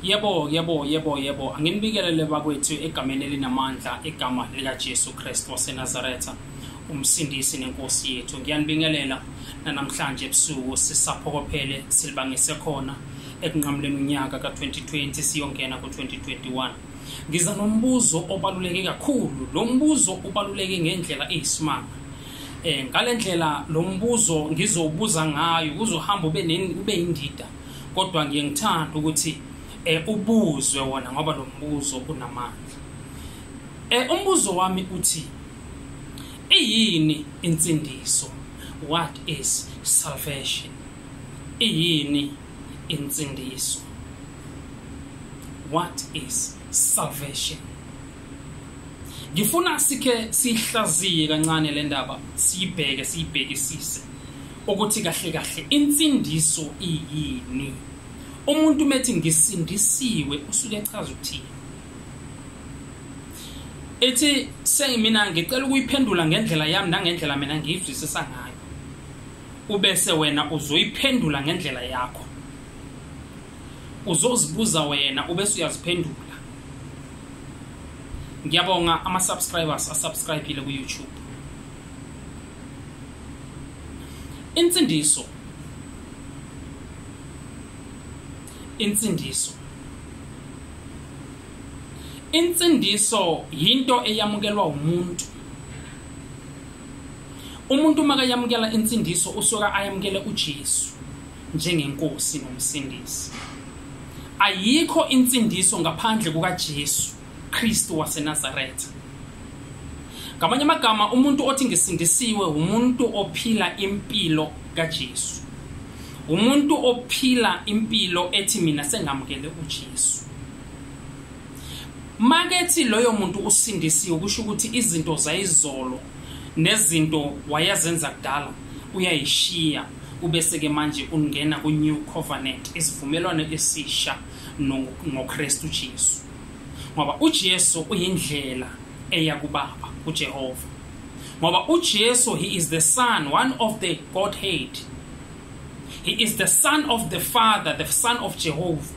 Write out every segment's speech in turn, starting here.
yebo yebo yebo yebo anginibikelele bakwethu egameni elinamandla igama likajesu kristu wasenazaretha umsindisi nenkosi yethu ngiyanibingelela nanamhlanje ebusuku sisaphokophele silibangise khona ekunqamuleni unyaka ka-2020 siyongena ku-2021 ngiza nombuzo obaluleke kakhulu lo mbuzo ubaluleke ngendlela eyisimanga eh ngalendlela lo mbuzo ngizowubuza ngayo kuzohamba ube ube indida kodwa ngiye ngithanda ukuthi eh ubuzwe wona ngoba lo mbuzo unamandla eh umbuzo wami uthi iyini insindiso what is salvation iyini insindiso what is salvation ngifuna sikhe sihlaziye kancane le ndaba siyibheke siyibhekisise ukuthi kahle kahle insindiso iyini umuntu methi ngisindisiwe usuke echaza ukuthini ethi sengimina ngicela ukuyiphendula ngendlela yami nangendlela mina ngiyizwisisa ngayo ubese wena uzoyiphendula ngendlela yakho uzozibuza wena ubese uyaziphendula ngiyabonga ama-subscribers asubscribile ku-youtube insindiso insindiso insindiso yinto eyamukelwa umuntu umuntu uma kayamukela insindiso usuka ayamukele uJesu njengenkosi nomsindisi. Ayikho insindiso ngaphandle kukaJesu Kristu waseNazaretha. Ngamanye amagama umuntu othi ngisindisiwe umuntu ophila impilo kaJesu. Umuntu ophila impilo ethi mina sengamukele uJesu. Makethi loyo muntu usindisiwe kusho ukuthi izinto zayizolo nezinto wayezenza kudala uyayishiya ubese-ke manje ungena ku-new covenant isivumelwano esisha ngokristu jesu ngoba ujesu uyindlela eya kubaba ujehova ngoba ujesu he is the son one of the godhead he is the son of the father the son of jehovah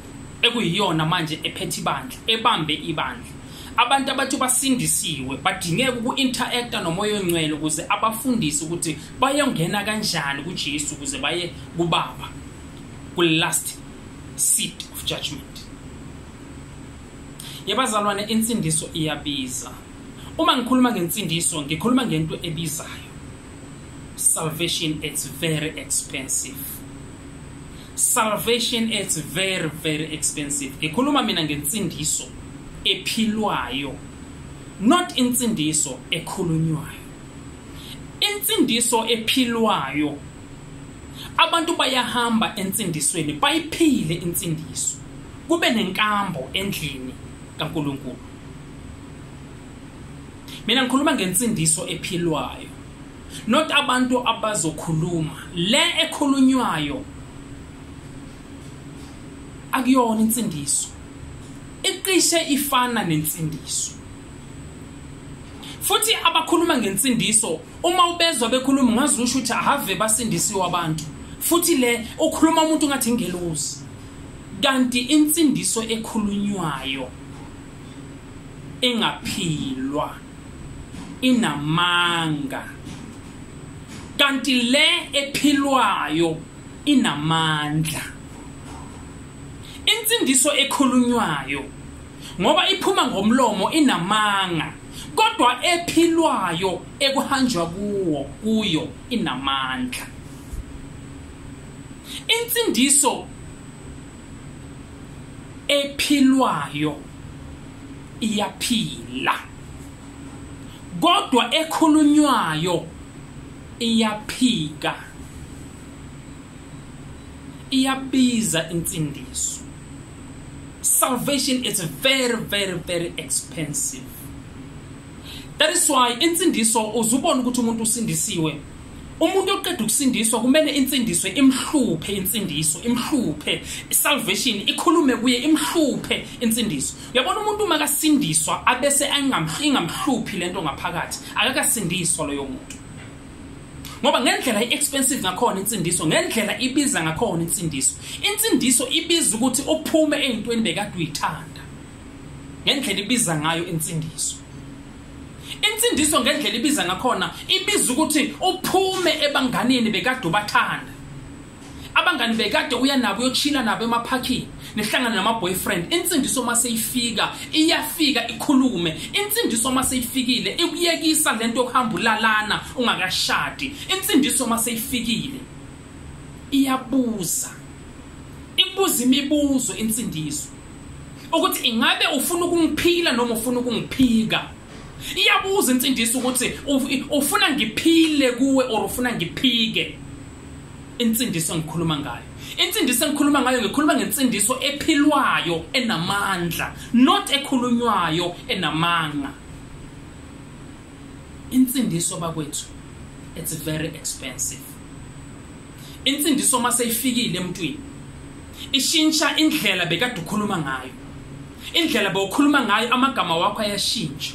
ekuyiyona manje ephethe ibandla ebambe ibandla abantu abathi basindisiwe badingeka uku-interacta nomoya ongcwele ukuze abafundise ukuthi bayongena kanjani kujesu ukuze baye kubaba kwi-last seat of judgment yebazalwane insindiso iyabiza uma ngikhuluma ngensindiso ngikhuluma ngento ebizayo salvation it's very expensive salvation it's very very expensive ngikhuluma mina ngensindiso ephilwayo not insindiso ekhulunywayo insindiso ephilwayo abantu bayahamba ensindisweni bayiphile insindiso kube nenkambo endlini kaNkuluNkulu mina ngikhuluma ngensindiso ephilwayo not abantu abazokhuluma le ekhulunywayo akuyona insindiso iqishe ifana nensindiso futhi abakhuluma ngensindiso uma ubezwa bekhuluma ngazi usho ukuthi ahave basindisiwe abantu futhi le ukhuluma umuntu ngathi ingelozi kanti insindiso ekhulunywayo engaphilwa inamanga kanti le ephilwayo inamandla insindiso ekhulunywayo ngoba iphuma ngomlomo inamanga kodwa ephilwayo ekuhanjwa kuwo kuyo inamandla insindiso ephilwayo iyaphila kodwa ekhulunywayo iyaphika iyabiza insindiso salvation is very very very expensive that is why insindiso uzubona ukuthi umuntu usindisiwe umuntu oqeda ukusindiswa kumele insindiswe imhluphe insindiso imhluphe salvation ikhulume kuye imhluphe insindiso uyabona umuntu uma kasindiswa abese ingamhluphi lento ngaphakathi akakasindiswa loyo muntu ngoba ngendlela i-expensive ngakhona insindiso ngendlela ibiza ngakhona insindiso insindiso ibiza ukuthi uphume ey'ntweni bekade uyithanda ngendlela ibiza ngayo insindiso insindiso ngendlela ibiza ngakhona ibiza ukuthi uphume ebanganini bekade ubathanda abangani bekade uya nabo uyochila nabo emaphakhini nihlangane nama-boyfriend insindiso uma seyifika iyafika ikhulume insindiso uma seyifikile ikuyekisa le nto yokuhamba ulalana ungakashadi insindiso uma seyifikile iyabuza ibuza imibuzo insindiso ukuthi ingabe ufuna ukungiphila noma ufuna ukungiphika iyabuza insindiso ukuthi ufuna ngiphile kuwe or ufuna ngiphike insindiso engikhuluma ngayo insindiso engikhuluma ngayo ngikhuluma ngensindiso ephilwayo enamandla not ekhulunywayo enamanga insindiso bakwethu it's very expensive Insindiso uma seyifikile emntwini ishintsha indlela bekade ukhuluma ngayo. Indlela bowukhuluma ngayo amagama wakho ayashintsha.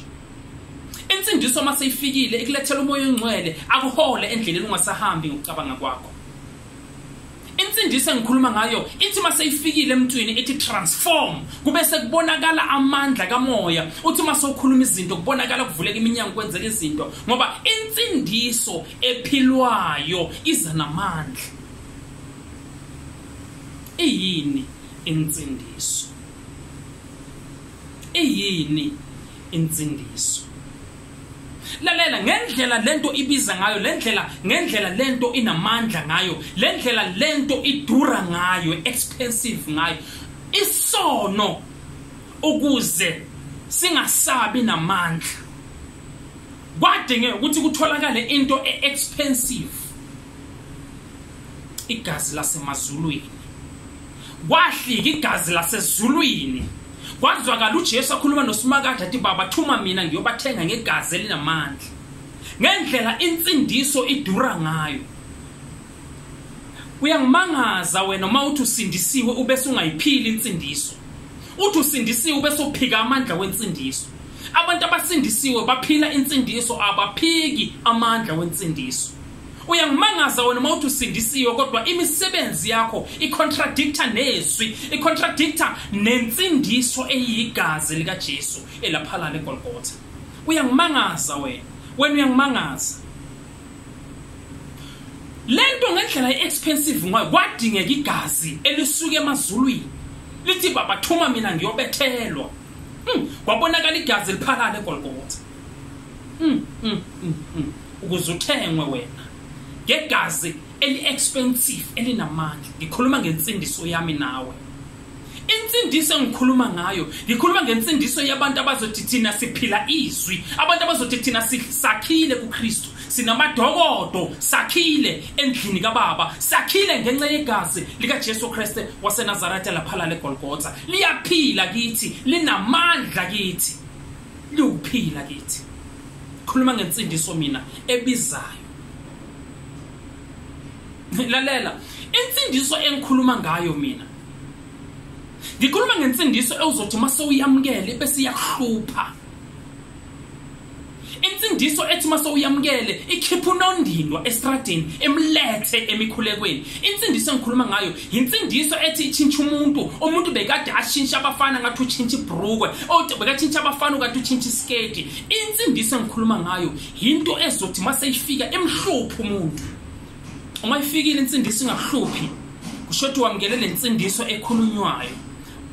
Insindiso uma seyifikile ikulethela umoya ongcwele akuhole endleleni ungasahambi ngokucabanga kwakho. Insindiso engikhuluma ngayo ithi uma seyifikile emntwini ithi transform kube sekubonakala amandla kamoya uthi uma sewukhuluma izinto kubonakala kuvuleka iminyango kwenzeka izinto ngoba insindiso ephilwayo iza namandla iyini insindiso iyini insindiso lalela ngendlela lento ibiza ngayo lendlela ngendlela lento inamandla ngayo lendlela lento idura ngayo expensive ngayo isono ukuze singasabi namandla kwadingeka ukuthi kutholakale into e-expensive igazi lasemazulwini kwahlika igazi lasezulwini kwazwakala uJesu akhuluma noSimakade athi baba thuma mina ngiyobathenga ngegazi elinamandla ngendlela insindiso idura ngayo uyangimangaza wena uma uthi usindisiwe ubese ungayiphili insindiso uthi usindisiwe ubese uphika amandla wensindiso abantu abasindisiwe baphila insindiso abaphiki amandla wensindiso uyangimangaza wena uma uthi usindisiwe kodwa imisebenzi yakho icontradicta nezwi icontradicta nensindiso eyigazi likajesu elaphalala egolgotha uyangimangaza wena wena uyangimangaza lento ngendlela iexpensive ngoba kwadingeka igazi elisuke emazulwini lithi baba thuma mina ngiyobethelwa hmm, kwabonakala igazi liphalale egolgotha hmm, hmm, ukuze uthengwe wena ngegazi eli-expensive elinamandla ngikhuluma ngensindiso yami nawe insindiso engikhuluma ngayo ngikhuluma ngensindiso yabantu abazothi thina siphila izwi abantu abazothi thina sakhile kuKristu sinamadokodo sakhile endlini kababa sakhile ngenxa yegazi likaJesu Kristu waseNazaretha laphala leGolgotha liyaphila kithi linamandla kithi liwuphila kithi khuluma ngensindiso mina ebizayo lalela insindiso engikhuluma ngayo mina ngikhuluma ngensindiso ewuzothi uma sewuyamukele bese iyakuhlupha insindiso ethi uma sewuyamukele ikhipha unondindwa estradini emlethe emikhulekweni insindiso engikhuluma ngayo yinsindiso ethi itshintsha umuntu umuntu bekade ashintshe abafana ngathi utshintshe ibrukwe othi bekatshintshe abafana ukathi utshintshe isiketi insindiso engikhuluma ngayo yinto ezothi uma seyifika emhluphi umuntu uma ifikile insindiso ingakuhluphi kusho ukuthi wamukele le nsindiso ekhulunywayo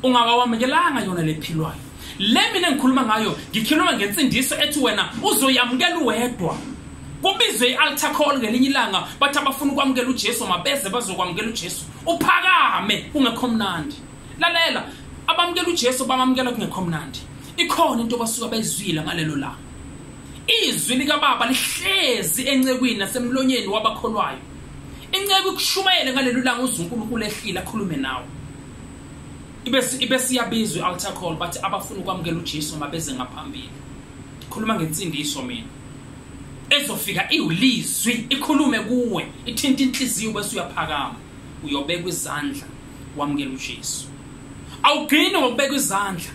ungakawamukelanga yona lephilwayo le mina engikhuluma ngayo ngikhuluma ngensindiso ethi wena uzoyamukela uwedwa kubizwe i-altar call ngelinye ilanga bathi abafuna ukwamukela ujesu mabeze bazokwamukela ujesu uphakame kungekho mnandi lalela abamukela ujesu bamamukela kungekho mnandi ikhona into basuka bayizwile ngalelo langa Izwi likaBaba lihlezi encekwini nasemlonyeni wabakholwayo. Inceku ikushumayele ngaleli langa uZunkulunkulu ehlile akhulume nawe. Ibese ibese iyabizwa altar call bathi abafuna ukwamukela uJesu mabeze ngaphambili. Khuluma ngensindiso mina. Ezofika iwulizwi ikhulume kuwe ithinta inhliziyo bese uyaphakama uyobeka izandla wamukela uJesu. Awugcini ngokubeka izandla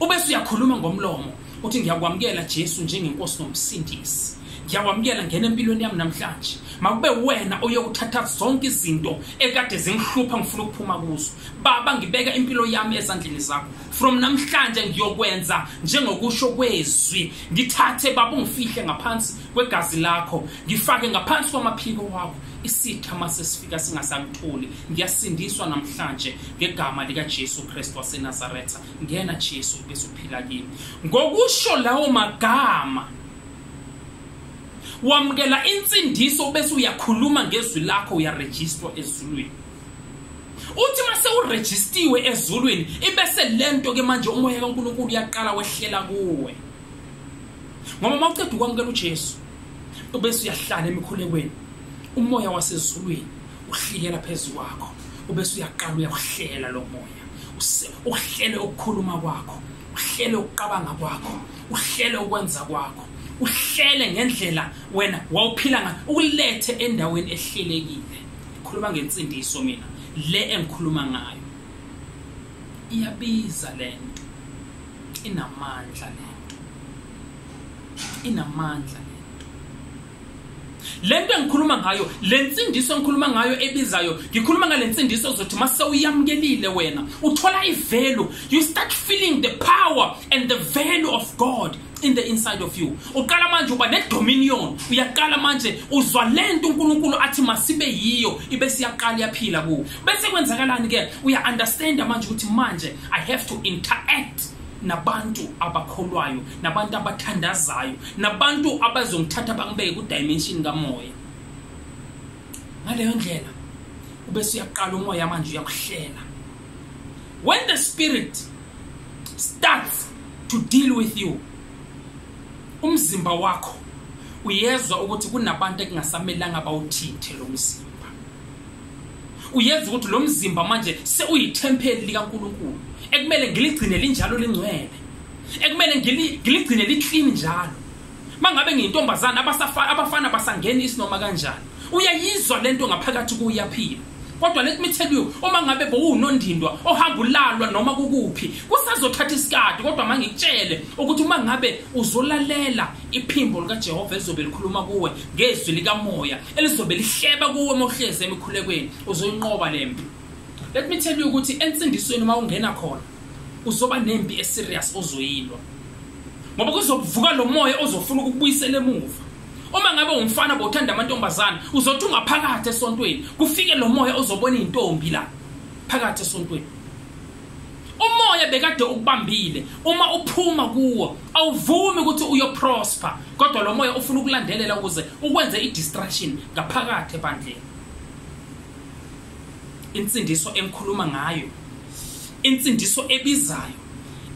ubese uyakhuluma ngomlomo uthi ngiyakwamukela Jesu njengenkosi nomsindisi ngiyakwamukela ngena empilweni yami namhlanje makube wena oyokuthatha zonke izinto ekade zingihlupha ngifuna ukuphuma kuzo baba ngibeka impilo yami ezandleni zakho from namhlanje ngiyokwenza njengokusho kwezwi ngithathe baba ungifihle ngaphansi kwegazi lakho ngifake ngaphansi kwamaphiko wakho isitha mase sifika singasakutholi ngiyasindiswa namhlanje ngegama likaJesu Kristu waseNazaretha ngena Jesu bese uphila kimi ngokusho lawo magama wamukela insindiso bese uyakhuluma ngezwi lakho uyaregister ezulwini uthi mase uregistiwe ezulwini ibese lento ke manje umoya kaNkuluNkulu uyaqala wehlela kuwe ngoba mawuceda ukwamukela uJesu ubese uyahlala emikhulekweni umoya wasezulwini uhlikela phezulu kwakho ubese uyaqala uyakuhlela lo moya uhlele ukukhuluma kwakho uhlele ukuqabanga kwakho uhlele ukwenza kwakho uhlele ngendlela wena wawuphila ngayo ukulethe endaweni ehlelekile khuluma ngensindiso mina le engikhuluma ngayo iyabiza lento inamandla lento inamandla lento engikhuluma ngayo lensindiso engikhuluma ngayo ebizayo ngikhuluma ngalensindiso ozothi mase uyamukelile wena uthola ivalue you start feeling the power and the value of God in the inside of you uqala manje uba nedominion uyaqala manje uzwa lento uNkulunkulu athi masibe yiyo ibe siyaqala yaphila ku bese kwenzakalani ke uya understand manje ukuthi manje i have to interact nabantu abakholwayo nabantu abathandazayo nabantu abazongithatha bangibeke kudimension kamoya ngaleyo ndlela ubese uyaqala umoya manje uyakuhlela when the spirit starts to deal with you umzimba wakho uyezwa ukuthi kunabantu ekungasamelanga bawuthinte lo mzimba uyenza ukuthi lo mzimba manje sewuyithempeli likaNkulunkulu ekumele ngiligcine linjalo lingcwele ekumele ngiligcine liclean njalo mangabe ngiyintombazana abasafana abafana basangena isinoma kanjani uyayizwa lento ngaphakathi kuyaphila kodwa let me tell you uma ngabe bowunondindwa ohamba ulalwa noma kukuphi kusazothatha isikade kodwa mangikutshele ukuthi uma ngabe uzolalela iphimbo likaJehova ezobe likhuluma kuwe ngezwi likamoya elizobe lihleba kuwe uma uhlezi emikhulekweni uzoyinqoba le mpi let me tell you ukuthi ensindisweni uma ungena khona uzoba nempi eserious ozoyilwa ngoba kuzovuka lo moya ozofuna ukubuyisela emuva uma ngabe umfana bothanda amantombazana uzothi ungaphakathi esontweni kufike lo moya ozobona izintombi la phakathi esontweni umoya bekade ukubambile uma uphuma kuwo awuvumi ukuthi uyoprosper kodwa lo moya ufuna ukulandelela ukuze ukwenze i-distraction ngaphakathi ebandleni insindiso engikhuluma ngayo insindiso ebizayo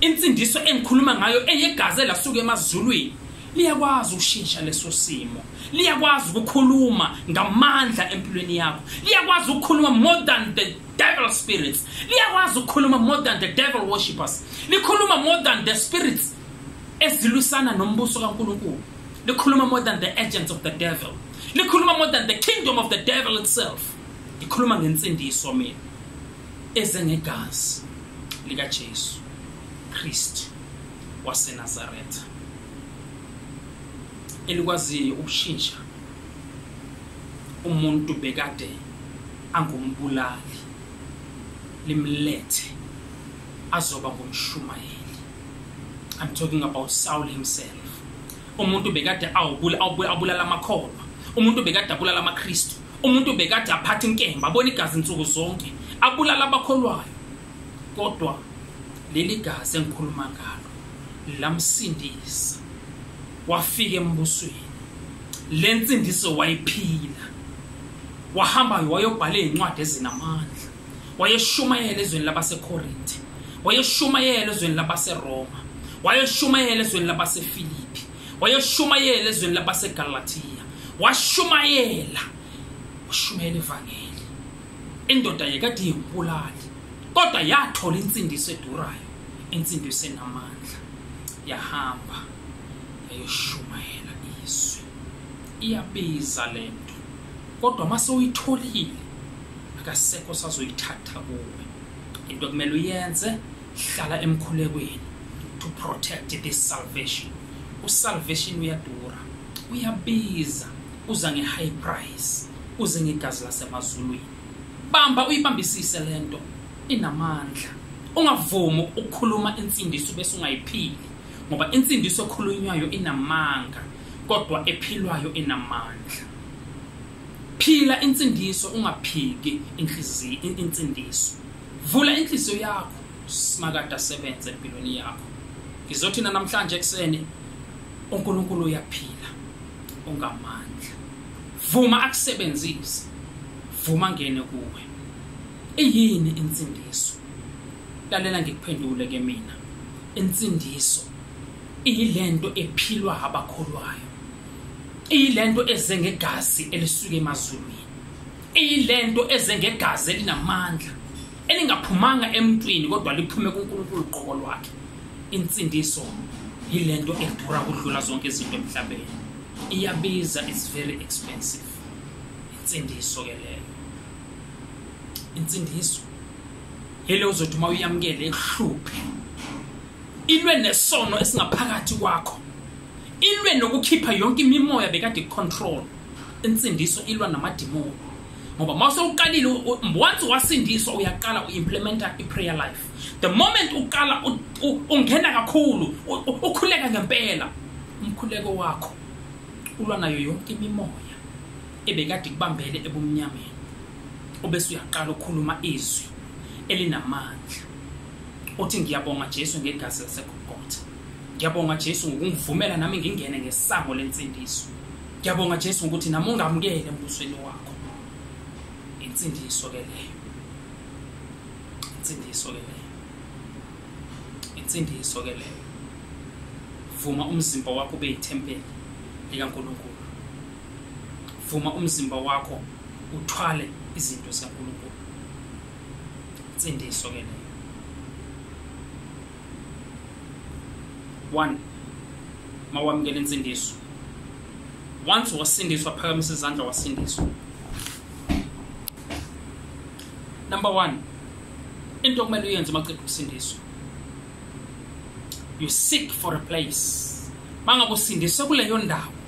insindiso engikhuluma ngayo eyegazi elasuka emazulwini liyakwazi ukushintsha leso simo liyakwazi ukukhuluma ngamandla empilweni yakho liyakwazi ukukhuluma more than the devil spirits liyakwazi ukukhuluma more than the devil worshippers likhuluma more than the spirits ezilwisana nombuso kaNkuluNkulu likhuluma more than the agents of the devil likhuluma more than the kingdom of the devil itself likhuluma ngensindiso mina ezengegazi lika Jesu Christ wase Nazareth elikwaziyo ukushintsha umuntu bekade angumbulali limlethe azoba ngumshumayeli i'm talking about saul himself umuntu bekade awubulala amakholwa umuntu bekade abulala amakristu umuntu bekade aphatha inkemba abona igazi insuku zonke abulala abakholwayo kodwa leli gazi engikhuluma ngalo lamsindisa wafika embusweni le nsindiso wayiphila wahambayo wayobhala izincwadi ezinamandla wayeshumayela ezweni labaseKorinte wayeshumayela ezweni labaseRoma wayeshumayela ezweni labaseFilipi wayeshumayela ezweni labaseGalatia washumayela washumayela ivangeli indoda yekade yembulali kodwa yathola insindiso edurayo insindiso enamandla yahamba eyoshumayela izwi iyabiza le nto kodwa uma sewuyitholile akasekho sazoyithatha kuwe into kumele uyenze hlala emkhulekweni to protect this salvation usalvation uyadura uyabiza uza nge-high price uze ngegazi lasemazulwini bamba uyibambisise le nto inamandla ungavumi ukukhuluma insindiso bese ungayiphili ngoba insindiso ekhulunywayo inamanga kodwa ephilwayo inamandla phila insindiso ungaphiki inhliziyo insindiso vula inhliziyo yakho simakade asebenze empilweni yakho ngizothi namhlanje ekuseni uNkulunkulu uyaphila ungamandla vuma akusebenzise vuma ngene kuwe Iyini insindiso? Lalela ngikuphendule ke mina. Insindiso iyilento ephilwa abakholwayo. Iyilento eze ngegazi elisuke emazulwini. Iyilento eze ngegazi elinamandla elingaphumanga emntwini kodwa liphume kuNkulunkulu qobo lwakhe. Insindiso yilento edura kudlula zonke izinto emhlabeni. Iyabiza, it's very expensive. Insindiso ke leyo. insindiso yile uzothi uma uyamukele ikuhluphe ilwe nesono esingaphakathi kwakho ilwe nokukhipha yonke imimoya bekade icontrol insindiso ilwa namadimoni ngoba uma sewuqalile once wasindiswa uyaqala u-implementa i-prayer life the moment uqala ungena kakhulu ukhuleka ngempela umkhuleko wakho ulwa nayo yonke imimoya ebekade ikubambele ebumnyameni ubese uyaqala ukukhuluma izwi elinamandla uthi ngiyabonga Jesu ngegazi laseGolgotha ngiyabonga Jesu ngokungivumela nami ngingene ngesango lensindiso ngiyabonga Jesu ukuthi nami ungamukele embusweni wakho insindiso ke leyo insindiso ke leyo insindiso ke leyo vuma umzimba wakho ube yithempeli likaNkulunkulu vuma umzimba wakho uthwale izinto zikaNkulunkulu insindiso ke leyo one mawamukela insindiso once wasindiswa phakamisa izandla wasindiswa number one into okumele uyenze uma ceda ukusindiswa you seek for a place mangabe usindiswe kuleyo ndawo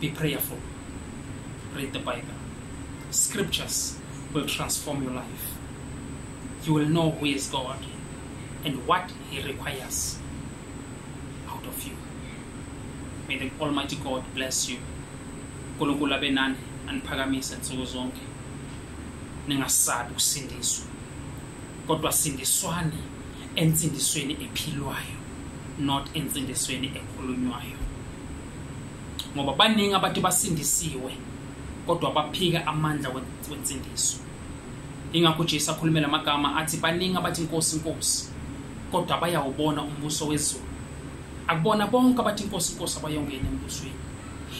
Be prayerful. Read the Bible. Scriptures will transform your life. You will know who is God and what He requires out of you. May the Almighty God bless you. uNkulunkulu abe nani aniphakamise nsuku zonke. Ningasabi ukusindiswa. Kodwa sindiswani ensindisweni ephilwayo not ensindisweni ekhulunywayo. ngoba baningi abantu basindisiwe kodwa baphika amandla wensindiso ingakho uJesu akhulumela amagama athi baningi abathi inkosi inkosi kodwa bayawubona umbuso wezulu akubona bonke abathi inkosi inkosi abayongena embusweni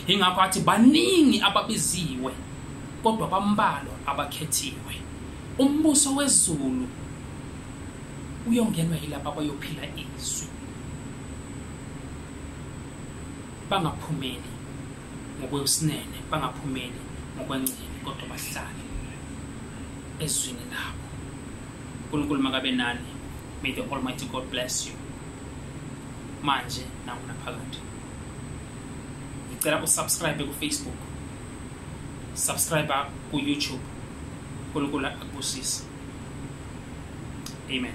ingakho athi baningi ababiziwe kodwa bambalwa abakhethiwe umbuso wezulu uyongenwa yilabo abayophila izwi bangaphumeli ngokwesinene bangaphumeli ngokwengcele kodwa bahlale ezwini labo unkulunkulu makabe nani may the almighty god bless you manje nangunaphakade ngicela usubscribe kufacebook subscribe kuyoutube unkulunkulu akubusise amen